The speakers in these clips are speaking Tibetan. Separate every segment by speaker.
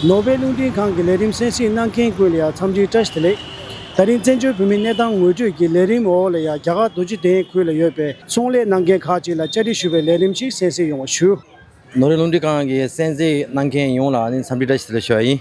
Speaker 1: ནོར་བྷེལ་རླུང་འཕྲིན་ཁང་གི་ལས་རིམ་གསན་གཟིགས་གནང་མཁན་ཀུན་ལ་ཡང་འཚམས་འདྲིའི་བཀྲ་ཤིས་བདེ་ལེགས། ད་རིང་བཙན་བྱོལ་བོད་མིའི་གནས་སྟངས་ངོས་སྤྲོད་ཀྱིས་ལས་རིམ་འོག་ལ་ཡང་རྒྱ་གར་རྡོ་རྗེ་གདན་ཁུལ་ལ་ཡོད་པའི་ཚོང་ལས་གནང་མཁན་ཁག་ཅིག་ལ་བཅར་འདྲི་ཞུ་བའི་ལས་རིམ་ཞིག་གསན་གཟིགས་ཡོང་བ་ཞུ། ནོར་བྷེལ་རླུང་འཕྲིན་ཁང་
Speaker 2: གི་གསན་གཟིགས་གནང་མཁན་ཡོངས་ལ་ནི་འཚམས་འདྲིའི་བཀྲ་ཤིས་བདེ་ལེགས་ཞུ་བ་ཡིན།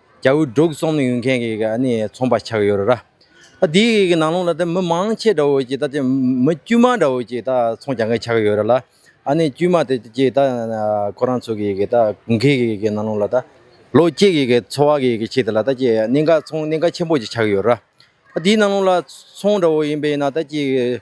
Speaker 2: རྒྱ་བོད་འབྲུག་གསུམ་ཡོད་མཁན་གྱི་ཚོང་པ་ཆགས་ཡོད་རེད། ད་དེའི་ནང་ལོགས་ལ་ད་མི་མང་ཆེ་འདྲ་བོ་ཅིག་ད་ཆ་མི་དཀྱུས་མ་འདྲ་བོ་ཅིག་ད་ཚོང་རྒྱག་མཁན་ཆགས་ཡོད་རེད་ལ། ཨ་ནི་དཀྱུས་མ་དེ་ཅིག་ད་ཁོ་རང་ཚོ་གི་ད་གུང་ཁེ་གི་ནང་ལོགས་ལ་ད་ལོ་གཅིག་གི་འཚོ་བ་གི་ཆེད་དུ་ལ་ད་ཅི་གནད་འགག་ཚོང་གནད་འགག་ཆེན་པོ་ཅིག་ཆགས་ཡོད་རེད། ད་དེའི་ནང་ལོགས་ལ་ཚོང་འདྲ་བོ་ཡིན་པས་ན་ད་ཅི།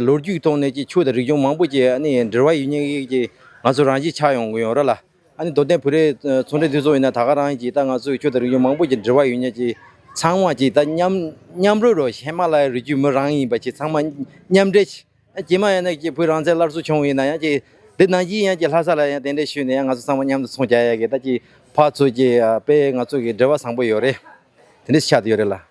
Speaker 2: ལོ་རྒྱུས་ཐོག་ནས་ཆོས་དང་རིག་གཞུང་མང་པོ་ཞིག་འབྲེལ་བ་ཡོད་ངེས་ཀྱི་ང་ཚོ་རང་གཞིས་ཆགས་ཡོང་གི་ཡོད་རེད་ལ། མདོ་སྟོད་བོད་རིགས་ཚོང་འབྲེལ་མཐུན་ཚོགས་ཡིན་ན་ད་ག་རང་གིས་ད་ང་ཚོའི་ཆོས་དང་རིག་གཞུང་མང་པོ་ཞིག་འབྲེལ་བ་ཡོད་ངེས་ཀྱི་ཚང་མ་ཞིག་ད་མཉམ་མཉམ་རུབ་རུབ་ཧི་མ་ལ་ཡའི་རི་རྒྱུད་མི་རང་ཡིན་པ་ཞིག་ཚང་མ་མཉམ་འབྲེལ་ཞིག་ཀྱེ་མ་ཡང་ན་བོད་རང་བཙན་སླར་གསོ་བྱུང་ཡིན་ན་ཡང་ཀྱེ་འདི་ནང་བཞིན་ཡང་ཀྱེ་ལྷ་ས་ལ་ཡང་དེ་འདྲས་ཞུས་ནས་ཡང་ང་ཚོ་ཚང་མ་མཉམ་དུ་ཚོང་བྱ་ཡག་གི་ད་ཀྱེ་ཕག་ཚོས་ཀྱི་དཔེ་ང་ཚོ་གི་འབྲེལ་བ་བཟང་པོ་ཡོད་རེད་དེ་འདྲས་ཆགས་དུ་ཡོད་རེད་ལ།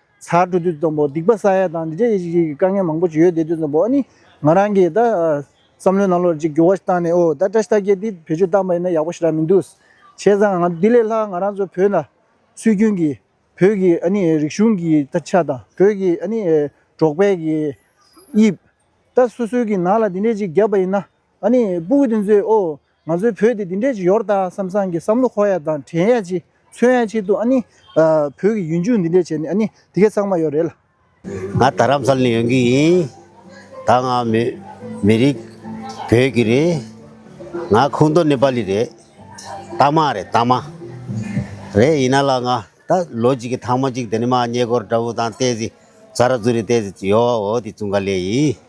Speaker 1: ཚར་གྲུ་དུས་ཙམ་པོ་སྡིག་པ་ས་ཡ་དང་འདི་འདྲའི་ཞིག་དཀའ་ངལ་མང་པོ་ཅིག་ཡོད་དེ་དུས་ཙམ་པོ་ཨ་ནི་ང་རང་གིས་ད་བསམ་བློའི་ནང་ལོགས་ཅིག་འགྱུར་བ་ཞིག་བཏང་ནས་ཨོ་ད་བཀྲ་ཤིས་རྟགས་བརྒྱད་འདི་བེད་སྤྱོད་བཏང་པ་ཡིན་ན་ཡག་པོ་ཞིག་རག་མི་འདུག་བྱས་ཙང་ང་འདི་ལས་ལྷག་ང་རང་ཚོ་བོད་ན་སྲོལ་རྒྱུན་གྱི་བོད་ཀྱི་ཨ་ནི་རིག་གཞུང་གི་ད་ཆ་དང་བོད་ཀྱི་ཨ་ནི་འབྲོག་པའི་གི་དབྱིབས་ད་སོ་སོའི་གི་ནང་ལ་འདི་འདྲའི་ཅིག་བརྒྱབ་པ་ཡིན་ན་ཨ་ནི་སྤུ་གུ་དེ་ཚོས་ཨོ། ང་ཚོའི་བོད་དེ་འདི་འདྲས་ཀྱི་ཡོར་ད་སམ་སང་གི་བསམ་བློ་ཁོག་ཡ་དང་དྲན་ཡ་ཅིག་མཚོན་ཡ་ཆེད་དུ་ཨ་ནི། བོད་ཀྱི་ཡུན་འཇུག་འདི་འདྲས་བྱས་ནས་ཨ་ནི་དེ་གས་ཚང་མ་ཡོད་རེད་ལ། ང་རྡ་
Speaker 3: རམ་ས་ལ་ནས་ཡོང་གི་ཡིན། ད་ང་མི་རིགས་བོད་ཀྱི་རེད། ང་ཁུངས་མདོ་ནེ་པ་ལི་རེད། རྟ་མ་རེད་རྟ་མ། རེད་ཡིན་ན་ལ་ང་ད་ལོ་གཅིག་གི་ཐང་མ་གཅིག་དེ་ནི་མ་ཉེ་སྒོར་དགྲ་བོ་དང་ཏེ་ཟི་ཛ་ར་ཛུ་རི་ཏེ་ཟི་ཡོ་བ་འོ་དེ་ཙུང་ག་ལེ་ཡིན།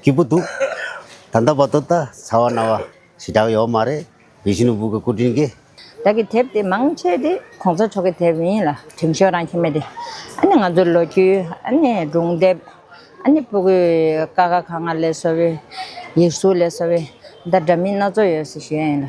Speaker 3: སྐྱིད་པོ་འདུག། ད་ལྟ་བར་དུ་ད་ཚ་བ་ན་བ་ཞེ་དྲག་ཡོད་མ་རེད་བི་ཤི་ནུ་བུ་གི་སྐུ་དྲིན་གྱིས། བདག་གི་དེབ་དེ་
Speaker 4: མང་ཆེ་དེ་གོང་ས་མཆོག་གི་དེབ་ཡིན་ལ་དྲིན་ཤོག་རང་ཁྱེར་མེད་དེ། ཨ་ནི་ང་ཚོའི་ལོ་རྒྱུས་ཨ་ནི་སྒྲུང་དེབ་ཨ་ནི་པུ་གུའི་ཀ་ཁ་ག་ང་ལས་བཟོ་བའི་ཡིག་གཟུགས་ལས་བཟོ་བའི་འདྲ་འདྲ་མིན་སྣ་ཚོགས་ཡོད་སྲིད་ཞེས་ཡིན་ལ།